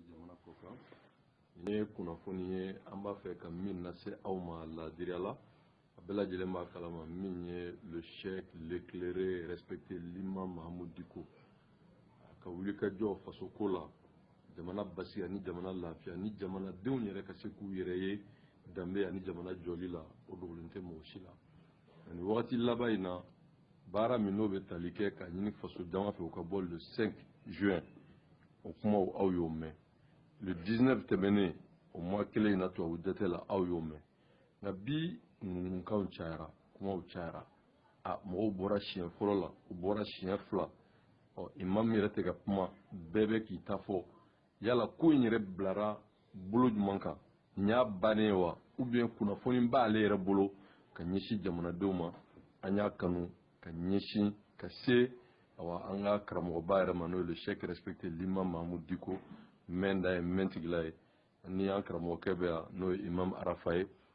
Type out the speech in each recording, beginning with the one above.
jamana ko kan nin ye kunnafoni ye an b'a fɛ ka min lase aw ma laadiriya la a bɛɛ lajɛlen b'a kalama min ye le cheikh l'éclairé respecté l'imam mahamud diko a ka wulikajɔ faso ko la jamana basigi ani jamana lafiya ni jamanadenw yɛrɛ ka se k'u yɛrɛ ye danbe ani jamana jɔli la o dogolen tɛ mɔgɔ si la ani wagati laban in na baara min n'o bɛ tali kɛ k'a ɲini faso jama fɛ u ka bɔ le 5 juin o kumaw aw y'o mɛn le 19 tɛmɛnen o mois kelen in na tubabu dɛtɛ la aw y'o mɛn nka bi ŋunuŋunukanw cayara kumaw cayara a mɔgɔw bɔra siɲɛ fɔlɔ la u bɔra siɲɛ fila ɔ imamu yɛrɛ tɛ ka kuma bɛɛ bɛ k'i ta fɔ yala ko in yɛrɛ bilara bolo jumɛn kan nin y'a bannen ye wa ou bien kunnafoni b'ale yɛrɛ bolo ka ɲɛsin jamanadenw ma an y'a kanu ka ɲɛsin ka se awa an ka karamɔgɔba yɛrɛ ma n'o ye le cheikh respecté l'imam mahamud diko mɛnda ye mɛntigi la ye ni an karamɔgɔkɛ bɛ yan n'o ye imam arafa ye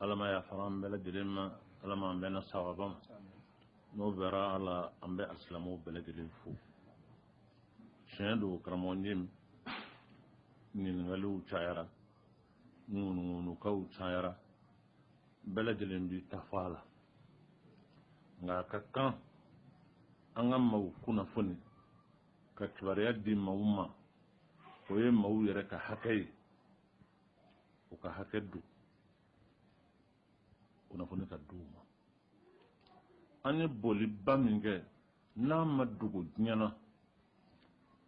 ala ma yafara an bɛɛ lajɛlen ma ala ma an bɛnna sawaba ma n'o bɛra ala an bɛ alisilamu bɛɛ lajɛlen fo tiɲɛ don karamɔgɔ n ye ɲininkaliw cayara ŋunuŋunukanw cayara bɛɛ lajɛlen b'i ta fɔ a la nka a ka kan an ka maaw kunnafoni ka kibaruya di maaw ma o ye maaw yɛrɛ ka hakɛ ye u ka hakɛ don kunnafoni ka di u ma an ye bɔliba min kɛ n'a ma dogo diɲɛ na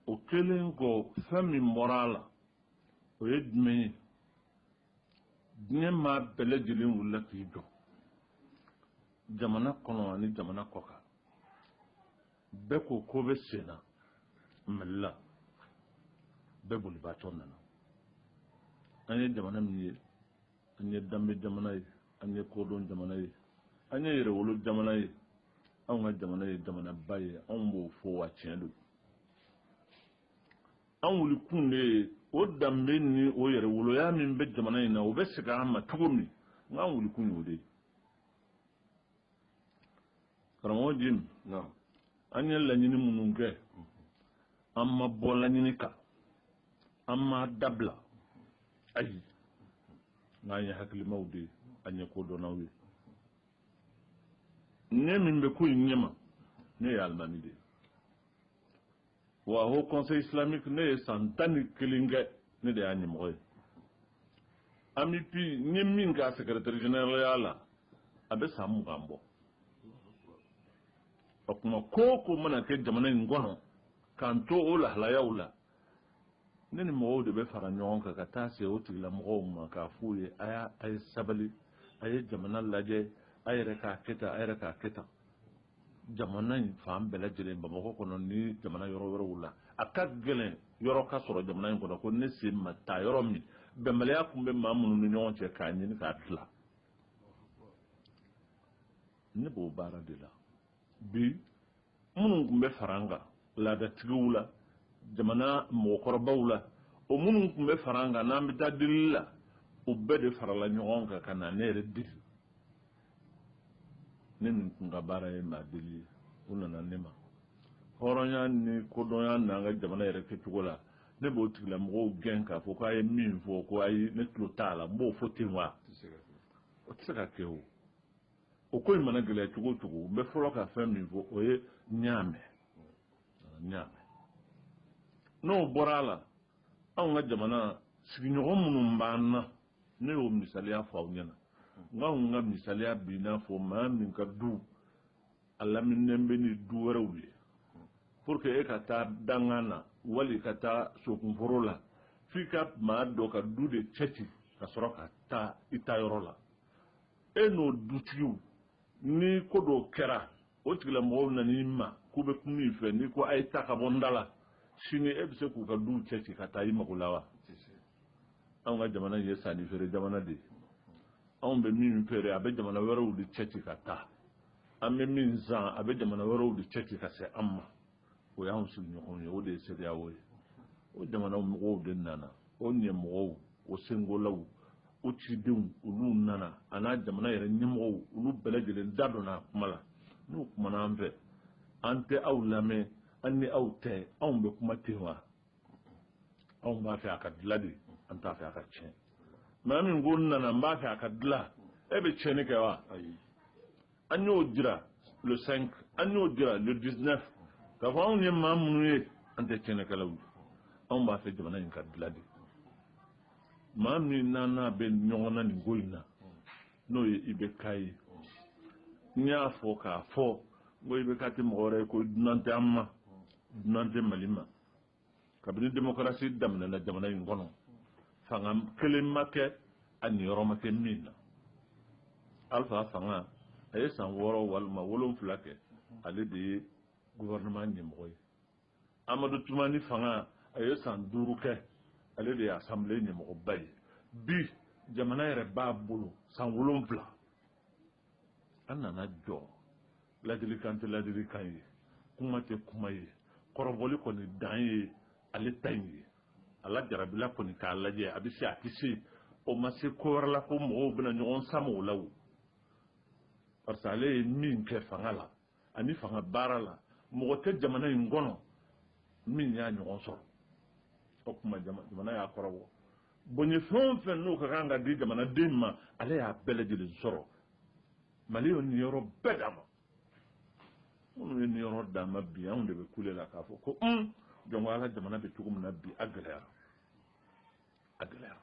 o kɛlen kɔ fɛn min bɔra a la o ye jumɛn ye diɲɛ maa bɛɛ lajɛlen wulila k'i jɔ jamana kɔnɔ ani jamana kɔkan bɛɛ ko ko bɛ sen na mali la bɛɛ bolibaatɔ nana an ye jamana min ye an ye danbe jamana ye an ye kodɔn jamana ye an ye yɛrɛwolo jamana ye anw ka jamana ye jamanaba ye anw b'o fɔ wa tiɲɛ don an wulikun de ye o danbe ni o yɛrɛwoloya min bɛ jamana in na o bɛ segin an ma cogo min n k'an wulikun y'o de ye karamɔgɔ jim an ye laɲini minnu kɛ an ma bɔ laɲini kan an m'a dabila ayi n'an ye hakilimaw de ye an ye kodɔnnaw ye ne min bɛ ko in ɲɛma ne ye alimami de ye wa haut conseil islamique ne ye san tan ni kelen kɛ ne de y'a ɲɛmɔgɔ ye AMUPI n ye min k'a secrétaire généralya la a bɛ san mugan bɔ o tuma ko o ko mana kɛ jamana in kɔnɔ k'an to o lahalayaw la ne ni mɔgɔw de bɛ fara ɲɔgɔn kan ka taa se o tigilamɔgɔw ma k'a f'u ye a y'a a ye sabali a ye jamana lajɛ a yɛrɛ k'a kɛ tan a yɛrɛ k'a kɛ tan jamana in fan bɛɛ lajɛlen bamakɔ kɔnɔ ni jamana yɔrɔ wɛrɛw la a ka gɛlɛn yɔrɔ ka sɔrɔ jamana in kɔnɔ ko ne sen ma taa yɔrɔ min bɛnbaliya tun bɛ maa minnu ni ɲɔgɔn cɛ k'a ɲini k'a dilan ne b'o baara de la bi minnu tun bɛ fara an kan laadatigiw la jamana mɔgɔkɔrɔbaw la o minnu tun bɛ fara an kan n'an bɛ taa delili la o bɛɛ de farala ɲɔgɔn kan ka na ne yɛrɛ deli ne min tun ka baara ye maa deli ye u nana ne ma hɔrɔnya ni kodɔnya n'an ka jamana yɛrɛ kɛcogo la ne b'o tigilamɔgɔw gɛn k'a fɔ k'a ye min fɔ ko ayi ne tulo t'a la n b'o fɔ ten wa o tɛ se ka kɛ o o ko in mana gɛlɛya cogo o cogo n bɛ fɔlɔ ka fɛn min fɔ o ye n y'a mɛn n y'a mɛn n'o bɔra a la anw ka jamana sigiɲɔgɔn minnu b'an na ne y'o misaliya fɔ aw ɲɛna n ka n ka misaliya b'i n'a fɔ maa min ka du a laminen bɛ ni du wɛrɛw ye pour que e ka taa dankan na wala i ka taa sokunforo la f'i ka maa dɔ ka du de cɛci ka sɔrɔ ka taa i taayɔrɔ la e n'o dutigiw ni ko dɔ kɛra o tigilamɔgɔw nan'i ma k'u bɛ kuma i fɛ n'i ko a ye taa ka bɔ n da la sini e bɛ se k'u ka duw cɛci ka taa i mago la wa anw ka jamana ye sannifeere jamana de ye anw bɛ min feere a bɛ jamana wɛrɛw de cɛci ka taa an bɛ min san a bɛ jamana wɛrɛw de cɛci ka se an ma o y'an sigiɲɔgɔnw ye o de ye CEDEAO ye o jamana mɔgɔw de nana o ɲɛmɔgɔw o sengolaw o cidenw olu nana an'a jamana yɛrɛ ɲɛmɔgɔw olu bɛɛ lajɛlen da donna a kuma la n'u kumana an fɛ an tɛ aw lamɛn an ni aw tɛ anw bɛ kuma ten wa anw b'a fɛ a ka dilan de an t'a fɛ a ka tiɲɛ maa min ko n nana n b'a fɛ a ka dilan e bɛ tiɲɛni kɛ wa ayi an y'o jira le 5 an y'o jira le 19 k'a fɔ anw ye maa minnu ye an tɛ tiɲɛnikɛlaw ye anw b'a fɛ jamana in ka dilan de maa min n'an n'a bɛ ɲɔgɔn na nin ko in na n'o ye IBK ye n y'a fɔ k'a fɔ n ko IBK tɛ mɔgɔ wɛrɛ ye ko dunan tɛ an ma dunan tɛ mali ma kabini demokarasi daminɛna jamana in kɔnɔ fanga kelen ma kɛ a niyɔrɔ ma kɛ min na alifa fanga a ye san wɔɔrɔ walima wolonfila kɛ ale de ye gouvernement ɲɛmɔgɔ ye amadu tumani fanga a ye san duuru kɛ ale de ye assemblée ɲɛmɔgɔba ye bi jamana yɛrɛ b'a bolo san wolonfila an nana jɔ ladilikan tɛ ladilikan ye kuma tɛ kuma ye kɔrɔbɔli kɔni dan ye ale ta in ye ala jarabila kɔni k'a lajɛ a bɛ se a tɛ se o ma se ko wɛrɛ la ko mɔgɔw bɛna ɲɔgɔn sama o la wo parce que ale ye min kɛ fanga la ani fanga baara la mɔgɔ tɛ jamana in kɔnɔ min y'a ɲɔgɔn sɔrɔ o tuma jamana y'a kɔrɔbɔ bonya fɛn o fɛn n'o ka kan ka di jamanaden ma ale y'a bɛɛ lajɛlen sɔrɔ mali ye niyɔrɔ bɛɛ d'a ma minnu ye niyɔrɔ d'a ma bi anw de bɛ kule la k'a fɔ ko un jɔn ko ala jamana bɛ cogo min na bi a gɛlɛyara a gɛlɛyara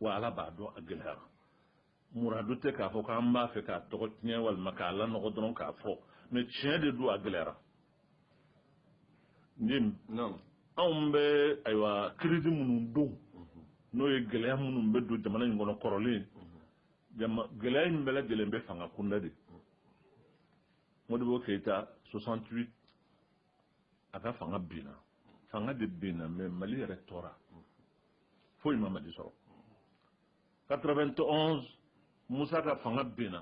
wa ala b'a dɔn a gɛlɛyara muradu tɛ k'a fɔ k'an b'a fɛ k'a tɔgɔ tiɲɛ walima k'a lanɔgɔ dɔrɔn k'a fɔ mɛ tiɲɛ de don a gɛlɛyara jim anw bɛ ayiwa crise minnu dɔn mhm. n'o ye gɛlɛya minnu bɛ don jamana in kɔnɔ kɔrɔlen mhm. gɛlɛya in bɛɛ lajɛlen bɛ fanga kunda de mhm. modibo keyita 68 a ka fanga binna fanga de binna mɛ mali yɛrɛ tora foyi ma mali sɔrɔ 91 musa ka fanga binna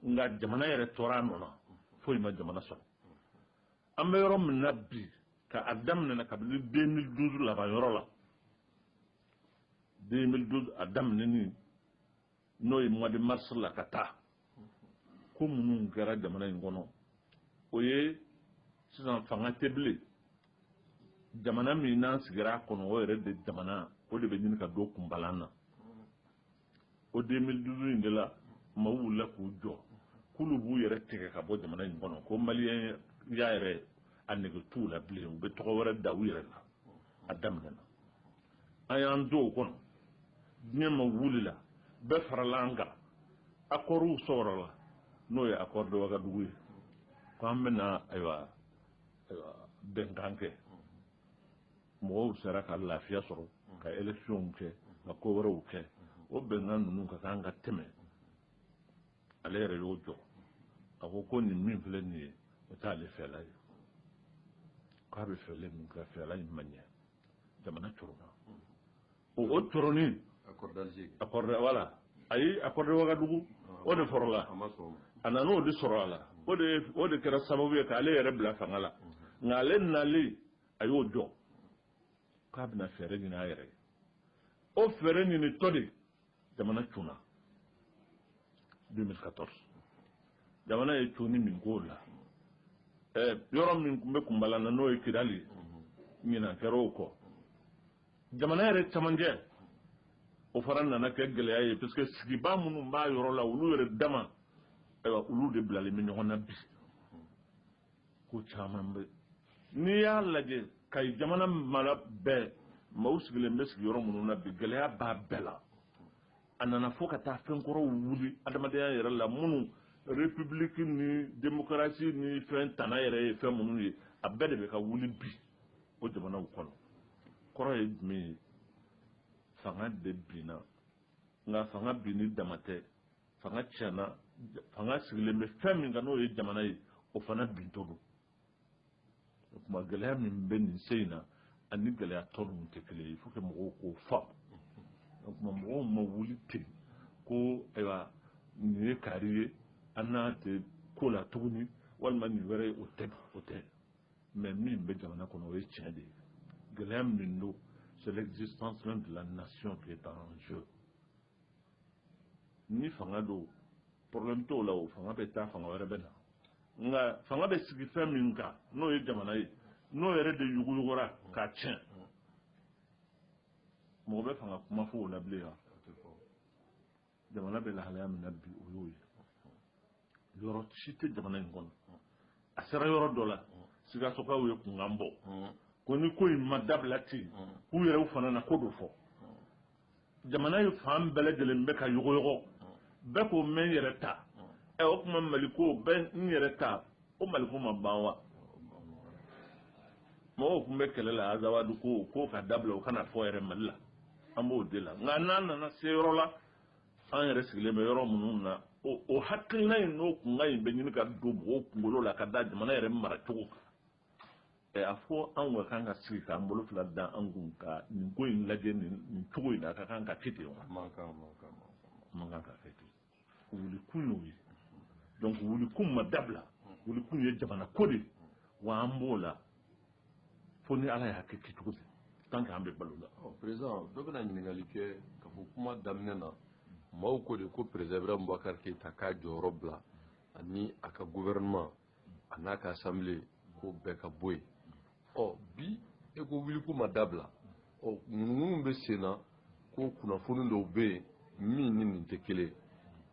nka jamana yɛrɛ tora a nɔ na foyi ma jamana sɔrɔ an bɛ yɔrɔ min na bi ka a daminɛ kabini 2012 laban yɔrɔ la 2012 a daminɛni n'o ye mois de mars la ka taa ko minnu kɛra jamana in kɔnɔ o ye sisan fanga tɛ bilen jamana min n'an sigira a kɔnɔ o yɛrɛ de jamana o de bɛ ɲini ka don kunbalan na o 2012 in de la maaw wulila k'u jɔ k'olu b'u yɛrɛ tigɛ ka bɔ jamana in kɔnɔ ko maliyɛnya yɛrɛ a nege t'u la bilen u bɛ tɔgɔ wɛrɛ da u yɛrɛ la a daminɛna an y'an to o kɔnɔ diɲɛ maaw wulila bɛɛ farala an kan akɔriw sɔrɔla n'o ye accord de wagadugu ye ko an bɛna ayiwa bɛnkan kɛ mɔgɔw sera ka lafiya sɔrɔ ka electionw kɛ ka ko wɛrɛw kɛ o bɛnkan ninnu ka kan ka tɛmɛ ale yɛrɛ y'o jɔ a ko ko nin min filɛ nin ye o t'ale fɛla ye k'a bɛ fɛla min kɛ fɛla in ma ɲɛ jamana tɔɔrɔ ma o o tɔrɔnin wala ayi accord de wagadugu o de fɔlɔla a nana o de sɔrɔ a la o de kɛra sababu ye k'ale yɛrɛ bila fanga la nka ale nalen a y'o dɔn k'a bɛna fɛɛrɛ ɲini a yɛrɛ ye o fɛɛrɛ ɲinitɔ de jamana cunna 2014 jamana ye cunni min k'o la yɔrɔ min tun bɛ kunbala na n'o ye kidali ɲinan kɛra o kɔ jamana yɛrɛ camancɛ o fana nana kɛ gɛlɛya ye parce que sigibaa minnu b'a yɔrɔ la olu yɛrɛ dama ayiwa olu de bilalen bɛ ɲɔgɔn na bi ko caman bɛ n'i y'a lajɛ ka jamana mara bɛɛ maaw sigilen bɛ sigiyɔrɔ minnu na bi gɛlɛya b'a bɛɛ la a nana fo ka taa fɛn kɔrɔw wuli adamadenya yɛrɛ la minnu république ni démocratie ni fɛn tana yɛrɛ ye fɛn minnu ye a bɛɛ de bɛ ka wuli bi o jamanaw kɔnɔ kɔrɔ ye jumɛn ye fanga de binna nka fanga binni dama tɛ fanga tiɲɛna fanga sigilen bɛ fɛn min kan n'o ye jamana ye o fana bintɔ don o tuma gɛlɛya min bɛ nin sen in na ani gɛlɛya tɔ ninnu tɛ kelen ye fo ka mɔgɔw k'o faamu o tuma mɔgɔw ma wuli ten ko ayiwa nin ye kaari ye an n'a tɛ ko la tuguni walima nin wɛrɛ ye o tɛ o tɛ mais min bɛ jamana kɔnɔ o ye tiɲɛ de ye gɛlɛya min don c'est l'existence même de la nation qui est en jeu ni fanga don problème t'o la o fanga bɛ taa fanga wɛrɛ bɛ na nka fanga bɛ sigi fɛn min kan n'o ye jamana ye n'o yɛrɛ de yɔgɔyɔgɔra k'a tiɲɛ mɔgɔ bɛ fanga kuma fɔ o la bilen wa jamana bɛ lahalaya min na bi o y'o ye yɔrɔ si tɛ jamana in kɔnɔ a sera yɔrɔ dɔ la sikasokaw ye kunkan bɔ ko ni ko in ma dabila ten k'u yɛrɛw fana na ko dɔ fɔ jamana ye fan bɛɛ lajɛlen bɛ ka yɔgɔyɔgɔ bɛɛ ko n bɛ n yɛrɛ ta ɛ o tuma mali ko bɛɛ n yɛrɛ ta o mali ko ma ban wa mɔgɔw tun bɛ kɛlɛ la azawadu ko k'o ka dabila o kana fɔ yɛrɛ mali la an b'o de la nka n'an nana se yɔrɔ la an yɛrɛ sigilen bɛ yɔrɔ minnu na o hakilina in n'o kunkan in bɛ ɲini ka don mɔgɔw kunkolo la ka da jamana yɛrɛ maracogo kan ɛ a fɔ an ka kan ka sigi k'an bolo fila da an kun ka nin ko in lajɛ nin cogo in na a ka kan ka kɛ ten wa a man kan ka kɛ ten wulikun y'o ye donc wulikun ma dabila wulikun ye jamana ko de wa an b'o la fo ni ala y'a kɛ kɛcogo fɛ tant que an bɛ balo la président dɔ bɛna ɲininkali kɛ ka fɔ kuma daminɛ na maaw ko de ko président ibrahim bubakar keyita k'a jɔyɔrɔ bila ani a ka gouvernement a n'a ka asanbile k'o bɛɛ ka bɔ yen ɔ bi e ko wuliko ma dabila ɔ ŋunuŋunu bɛ sen na ko kunnafoni dɔw bɛ yen min ni nin tɛ kelen ye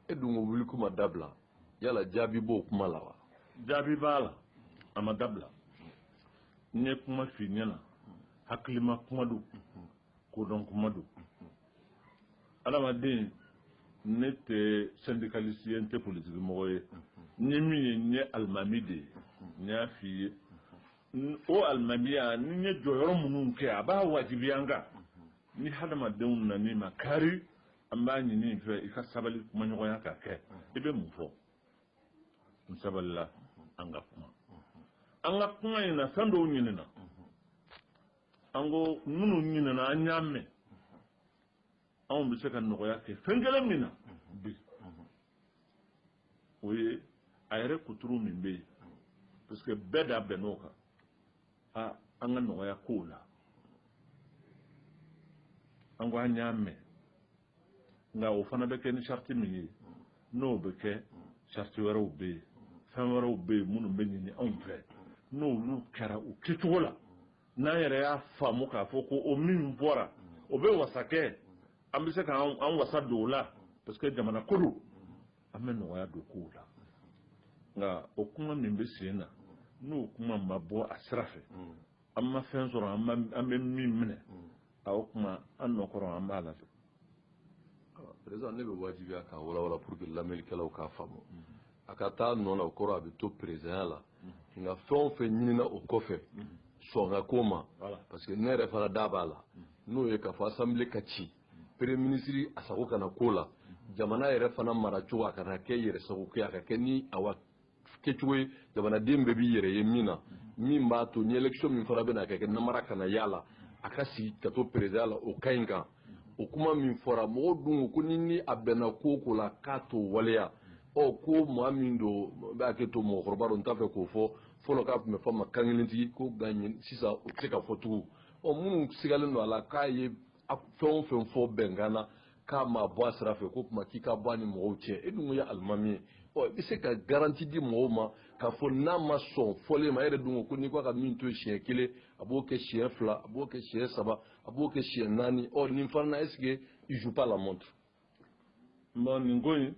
e dun ko wuliko ma dabila yala jaabi b'o kuma la wa jaabi b'a la a ma dabila n ye kuma f'i ɲɛna hakilima kuma don kodɔn kuma don adamaden ne tɛ syndicaliste ye n tɛ politiki mɔgɔ ye n ye min ye n ye alimami de ye n y'a f'i ye o alimamiya ni n ye jɔyɔrɔ minnu kɛ a b'a wajibiya n kan ni hadamadenw nan'i makari an b'a ɲini i fɛ i ka sabali kumaɲɔgɔnya ka kɛ i bɛ mun fɔ n sabalila an ka kuma an ka kuma in na fɛn dɔw ɲinina an ko minnu ɲinina an y'a mɛn anw bɛ se ka nɔgɔya kɛ fɛn kelen min na bi o ye a yɛrɛ kuturu min bɛ yen parce que bɛɛ da bɛnn'o kan a an ka nɔgɔya kow la an ko an y'a mɛn nka o fana bɛ kɛ ni sariti min ye n'o bɛ kɛ sariti wɛrɛw bɛ yen fɛn wɛrɛw bɛ yen minnu bɛ ɲini anw fɛ n'olu kɛra u kɛcogo la n'an yɛrɛ y'a faamu k'a fɔ ko o min bɔra o bɛ wasa kɛ an bɛ se ka an wasa don o la parce que jamana ko don an bɛ nɔgɔya don kow la nka o kuma min bɛ sen na n'o kuma ma bɔ a sira fɛ an ma fɛn sɔrɔ an bɛ min minɛ A o tuma an nɔ kɔrɔ an b'a la président ne bɛ wajibiya k'a walawala pour que lamɛnlikɛlaw k'a faamu a ka t'a nɔ la o kɔrɔ a bɛ to présidentya la nka fɛn o fɛn ɲinina o kɔfɛ sɔn ka k'o ma parce que ne yɛrɛ fana da b'a la n'o ye k'a fɔ assemblée ka ci premier ministre a sago kana k'o la jamana yɛrɛ fana maracogo a kana kɛ yɛrɛsagokɛ a ka kɛ ni a kɛcogo ye jamanaden bɛɛ b'i yɛrɛ ye min na min b'a to ni election min fana bɛna kɛ namara kana y'a la a ka sigi ka to présidence la o ka ɲi kan o kuma min fɔra mɔgɔw dun ko ni ni a bɛnna ko o ko la k'a t'o waleya ɔ ko maa min don n bɛ hakɛto mɔgɔkɔrɔba don n t'a fɛ k'o fɔ fɔlɔ k'a tun bɛ fɔ a ma kankelentigi ko nka sisan o tɛ se ka fɔ tugun ɔ minnu sigalen don a la k'a ye a fɛn o fɛn fɔ bɛnkan na k'a ma bɔ a sira fɛ k'o tuma k'i ka bɔ a ni mɔgɔw cɛ e dun ye alimami ye ɔ i bɛ se ka garanti di mɔgɔw ma k'a fɔ n'a ma sɔn fɔlen ma e yɛrɛ dun ko ko n'i k'a ka min to siɲɛ kelen a b'o kɛ siɲɛ fila a b'o kɛ siɲɛ saba a b'o kɛ siɲɛ naani ɔ nin fana na est-ce que il joue pas la montre. non nin ko in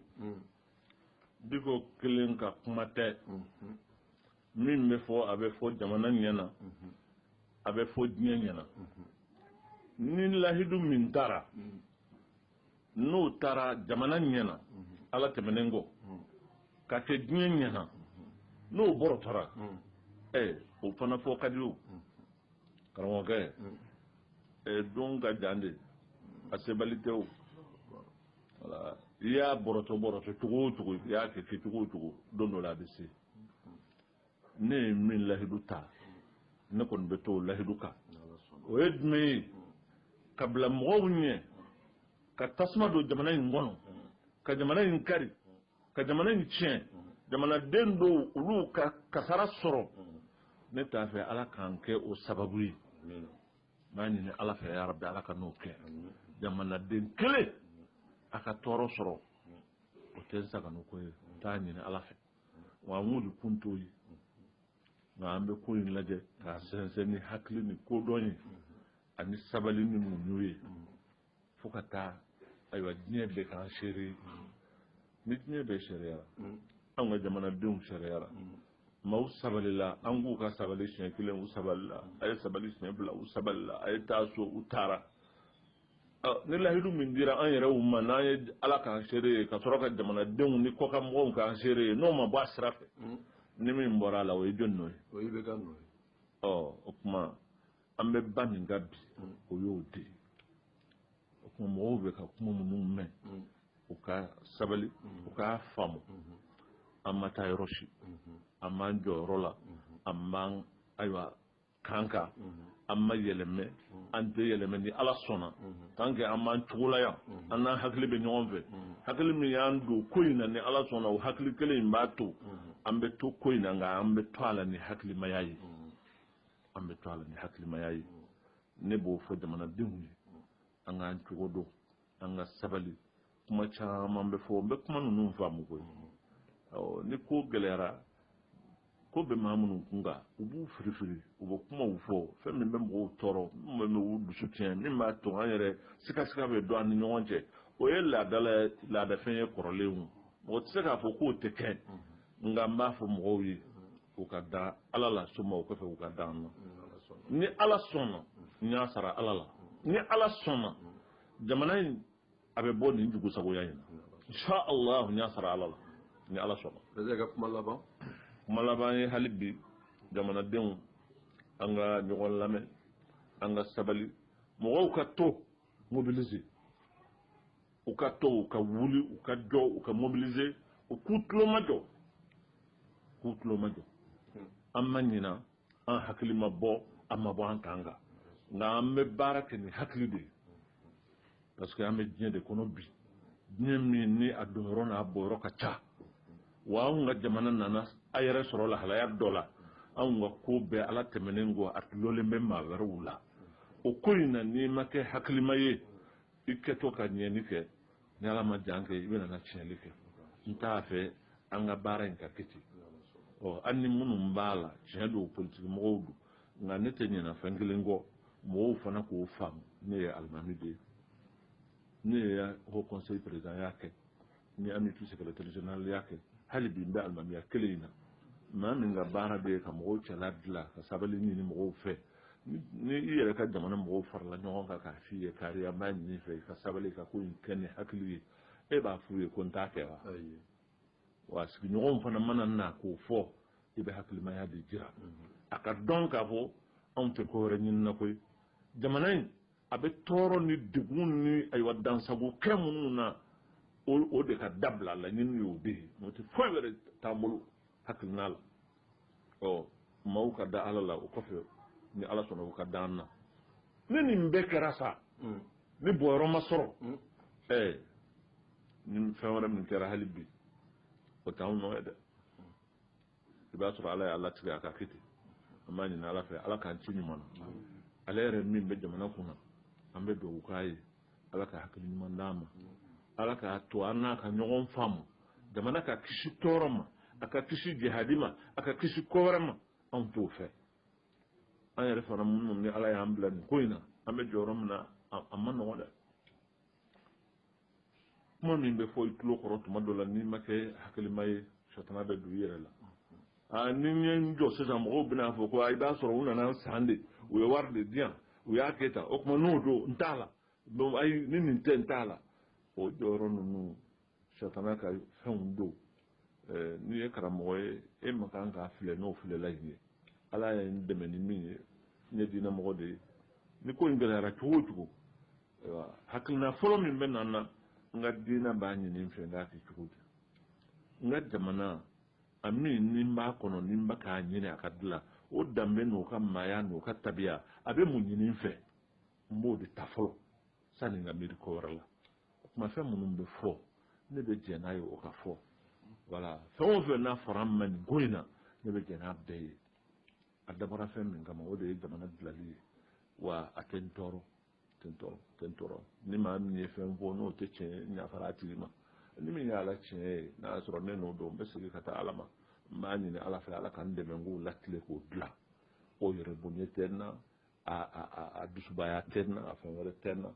Dicko kelen ka kuma tɛ. min bɛ fɔ a bɛ fɔ jamana ɲɛ na a bɛ fɔ diɲɛ ɲɛ na ni lahidu min tara n'o tara jamana ɲɛ na ala tɛmɛnen kɔ ka kɛ diɲɛ ɲɛ na n'o bɔrɔtɔra ɛ o fana fɔ ka di o karamɔgɔkɛ ɛ don ka jan de a sebali tɛ o wala i y'a bɔrɔtɔ bɔrɔtɔ cogo o cogo i y'a kɛ kɛ cogo o cogo don dɔ la a bɛ se ne ye min lahidu ta ne kɔni bɛ to o lahidu kan o ye jumɛn ye ka bila mɔgɔw ɲɛ ka tasuma don jamana in kɔnɔ ka jamana in kari ka jamana in tiɲɛ jamanaden dɔw olu ka kasara sɔrɔ ne t'a fɛ ala k'an kɛ o sababu ye n b'a ɲini ala fɛ yarabi ala kan'o kɛ jamanaden kelen a ka tɔɔrɔ sɔrɔ o tɛ n sagonako ye n t'a ɲini ala fɛ wa an wulikun t'o ye nka an bɛ ko in lajɛ k'a sɛnsɛn ni hakili ni kodɔn ye ani sabali ni muɲu ye fo ka taa ayiwa diɲɛ bɛɛ k'an seere ni diɲɛ bɛɛ seereyara anw ka jamanadenw seereyara maaw sabalila an k'u ka sabali siɲɛ kelen u sabalila a ye sabali siɲɛ fila u sabalila a ye taa so u taara ni lahidu min dira an yɛrɛw ma n'an ye ala k'an seere ye ka sɔrɔ ka jamanadenw ni kɔkan mɔgɔw k'an seere ye n'o ma bɔ a sira fɛ hmm. ni min bɔra a la o ye jɔni nɔ ye o ye IBK nɔ ye ɔ o tuma an bɛ ba min kan bi hmm. o y'o de ye o tuma mɔgɔw bɛ ka kuma minnu mɛn hmm. u ka sabali u k'a faamu an ma taa yɔrɔ si an b'an jɔyɔrɔ la an b'an ayiwa kan kan an ma yɛlɛmɛ an tɛ yɛlɛmɛ ni ala sɔnna tan kɛ an b'an cogo la yan an n'an hakili bɛ ɲɔgɔn fɛ hakili min y'an don ko in na ni ala sɔnna o hakili kelen in b'a to an bɛ to ko in na nka an bɛ to a la ni hakilimaya ye an bɛ to a la ni hakilimaya ye ne b'o fɔ jamanadenw ye an k'an cogo dɔn an ka sabali kuma caman bɛ fɔ n bɛ kuma ninnu faamu koyi ni ko gɛlɛyara ko bɛ maa minnu kun kan u b'u firifiri u bɛ kumaw fɔ fɛn min bɛ mɔgɔw tɔɔrɔ min bɛ u dusu tiɲɛ min b'a to an yɛrɛ sikasika bɛ don an ni ɲɔgɔn cɛ o ye laadala laadafɛn ye kɔrɔlen o mɔgɔ tɛ se k'a fɔ k'o tɛ kɛ nka n b'a fɔ mɔgɔw ye u ka da ala la summa o kɔfɛ u ka da an na ni ala sɔnna n y'a sara ala la ni ala sɔnna jamana in a bɛ bɔ nin dugu sagoya in na allah n y'a sara ala la ni ala sɔnna bɛɛ ka kuma laban kuma laban ye hali bi jamanadenw an ka ɲɔgɔn lamɛn an ka sabali mɔgɔw ka to mobiliser u ka to u ka wuli u ka jɔ u ka mobiliser u k'u tulomajɔ k'u tulomajɔ an ma ɲina an hakili ma bɔ an ma bɔ an ta kan nka an bɛ baara kɛ ni hakili de ye parce que an bɛ diɲɛ de kɔnɔ bi diɲɛ min ni a donyɔrɔ n'a bɔyɔrɔ ka ca wa anw ka jamana nana a yɛrɛ sɔrɔ lahalaya dɔ la anw ka ko bɛɛ ala tɛmɛnen kɔ a dulonnen bɛ maa wɛrɛw la o ko in na n'i ma kɛ hakilima ye i kɛtɔ ka ɲɛni kɛ ni ala ma jan kɛ i bɛna na tiɲɛli kɛ n t'a fɛ an ka baara in ka kɛ ten ɔ an ni minnu b'a la tiɲɛ don politiki mɔgɔw don nka ne tɛ ɲinɛ fɛn kelen kɔ mɔgɔw fana k'o faamu ne ye alimami de ye ne ye haut conseil présidentya kɛ n ye amupi secrétaire généralya kɛ hali bi n bɛ alimamiya kelen in na maa min ka baara bɛɛ ye ka mɔgɔw cɛla dilan ka sabali ɲini mɔgɔw fɛ ni i yɛrɛ ka jamana mɔgɔw farala ɲɔgɔn kan k'a f'i ye kari an b'a ɲini i fɛ i ka sabali ka ko in kɛ ni hakili ye e b'a f'u ye ko n t'a kɛ wa wa sigiɲɔgɔnw fana mana na k'o fɔ i bɛ hakilimaya de jira a k'a dɔn k'a fɔ anw tɛ ko wɛrɛ ɲinina koyi jamana in a bɛ tɔɔrɔ ni degun ni ayiwa dansago kɛ minnu na o de ka dabila laɲini y'o de ye n'o tɛ foyi wɛrɛ t'an bolo hakilina la ɔ maaw ka da ala la o kɔfɛ ni ala sɔnna u ka da an na ni nin bɛɛ kɛra sa mm. ni bɔyɔrɔ ma sɔrɔ mm. ɛɛ ni fɛn wɛrɛ min kɛra hali bi o t'anw nɔ ye dɛ i b'a sɔrɔ ala y'a latigɛ a ka kɛ ten an b'a ɲini ala fɛ ala k'an ci ɲuman na ale yɛrɛ min bɛ jamana kunna an bɛ dugawu k'a ye ala ka hakili ɲuman d'a ma ala k'a to an n'a ka ɲɔgɔn faamu jamana ka kisi tɔɔrɔ ma a ka kisi jahadi ma a ka kisi ko wɛrɛ ma anw t'o fɛ an yɛrɛ fana minnu ni ala y'an bila nin ko in na an bɛ jɔyɔrɔ min na a ma nɔgɔn dɛ kuma min bɛ fɔ i tulo kɔrɔ tuma dɔ la n'i ma kɛ hakilima ye sɔtana bɛ don i yɛrɛ la aa ni n ye n jɔ sisan mɔgɔw bɛna fɔ ko i b'a sɔrɔ u nana san de u ye wari de di yan u y'a kɛ tan o tuma n'o don n t'a la donc ayi ni nin tɛ n t'a la o jɔyɔrɔ ninnu satana ka fɛnw don eh, n'i ye karamɔgɔ ye e man kan k'a filɛ n'o filɛlan in ye ala ye n dɛmɛ ni min ye n ye diinɛmɔgɔ de ye ni ko in gɛlɛyara cogo o cogo ayiwa hakilina fɔlɔ min bɛ na n na n ka diinɛ b'a ɲini n fɛ n k'a kɛ cogo di n ka jamana A min ni b'a kɔnɔ ni ba k'a ɲini a ka dilan o danbe n' ka maaya n' ka tabiya a bɛ mun ɲini n fɛ n b'o de ta fɔlɔ sani ka miiri ko wɛrɛ la kuma fɛn minnu bɛ fɔ ne bɛ jɛn n'a ye o ka fɔ wala fɛn o fɛn n'a fɔra n ma nin ko in na ne bɛ jɛn n'a bɛɛ ye a dabɔra fɛn min kama o de ye jamana dilali ye wa a tɛ n tɔɔrɔ tɔɔrɔ ni maa min ye fɛn fɔ n'o tɛ tiɲɛ n yafara a tigi ma ni min y'a la tiɲɛ ye n'a y'a sɔrɔ ne nɔ don n bɛ segin ka taa ala ma n b'a ɲini ala fɛ ala ka n dɛmɛ n k'o latile k'o dilan o yɛrɛbonya tɛ n na a dusubaya tɛ n na a fɛn wɛrɛ tɛ n na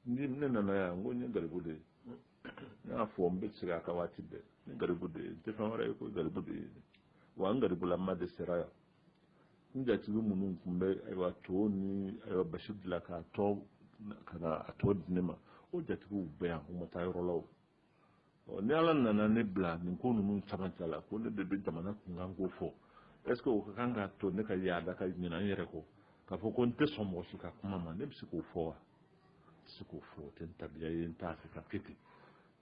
ni ne nana yan n ko n ye garibu de ye n y'a fɔ n bɛ segin a kan waati bɛɛ n ye garibu de ye n tɛ fɛn wɛrɛ ye ko garibu de ye wa n garibulama de sera yan n jatigi minnu tun bɛ ayiwa to ni ayiwa basi bila k'a tɔ ka na a tɔ di ne ma o jatigiw bɛ yan u ma taa yɔrɔ la o ni ala nana ne bila nin ko ninnu caman cɛ la ko ne de bɛ jamana kunkanko fɔ est-ce o ka kan k'a to ne ka yaada ka ɲinɛ n yɛrɛ kɔ k'a fɔ ko n tɛ sɔn mɔgɔ si ka kuma ma ne bɛ se k'o fɔ wa n tɛ se k'o fɔ o tɛ n tabiya ye n t'a fɛ ka kɛ ten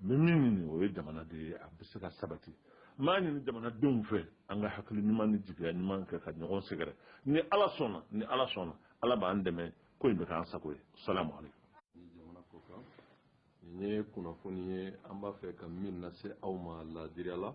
n bɛ min ɲini o ye jamana de ye a bɛ se ka sabati n b'a ɲini jamanadenw fɛ an ka hakili ɲuman ni jigiya ɲuman kɛ ka ɲɔgɔn sɛgɛrɛ ni ala sɔnna ni ala sɔnna ala b'an dɛmɛ ko in bɛ k'an sago ye salamu aleykum jamana ko kan nin ye kunnafoni ye an b'a fɛ ka min lase aw ma laadiriya la